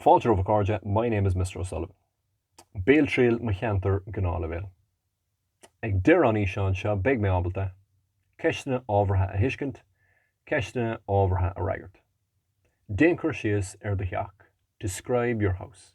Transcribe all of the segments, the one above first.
Fáilte romhaibh a chairde, my name is Mister O'Sullivan. Béaltriail mo cheantar Gnáthleibhéal. Ag deireadh an fhíseáin seo beidh mé ábalta, Ceisteanna ábhartha a thuiscint, Ceisteanna ábhartha a fhreagairt. Déan cur síos ar do theach, describe your house.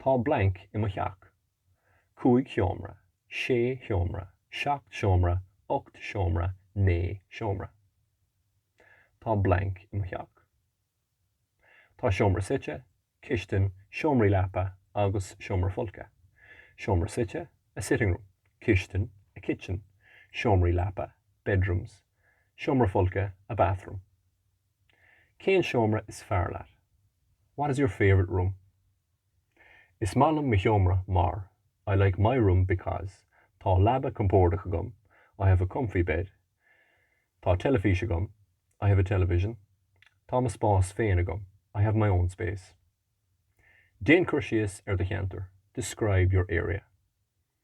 Tá blank i mo theach. Cúig sheomra, sé sheomra, seacht seomra, ocht seomra, naoi seomra. Tá blank i mo theach. Tá seomra suite, cistin, seomraí leapa agus seomra folctha. Seomra suite, a sitting room, cistin, a kitchen, seomraí leapa, bedrooms, seomra folctha, a bathroom. Cén seomra is fearr leat? What is your favourite room? Is maith liom mo sheomra mar, I like my room because, Tá leaba compordach agam, I have a comfy bed. Tá teilifís agam, I have a television. Tá mo spás féin agam, I have my own space. Déan cur síos ar do cheantar, Describe your area.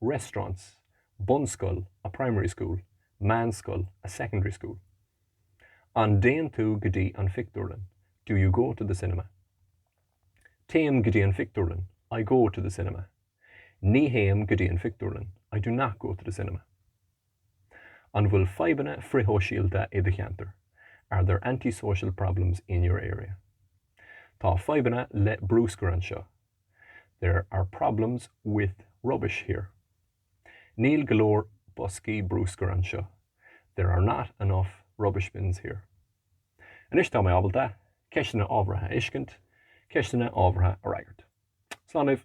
restaurants, bunscoil, a primary school, meánscoil, a secondary school. An dtéann tú go dtí an phictiúrlann, do you go to the cinema? Téim go dtí an phictiúrlann, I go to the cinema. Ní théim go dtí an phictiúrlann, I do not go to the cinema. An bhfuil fadhbanna frithshóisialta i do cheantar, are there anti-social problems in your area? Tá fadhbanna le brúscar anseo, There are problems with rubbish here. Níl go leor boscaí brúscair anseo. There are not enough rubbish bins here. Anois tá mé ábalta ceisteanna ábhartha a thuiscint, ceisteanna ábhartha a fhreagairt. Slán libh!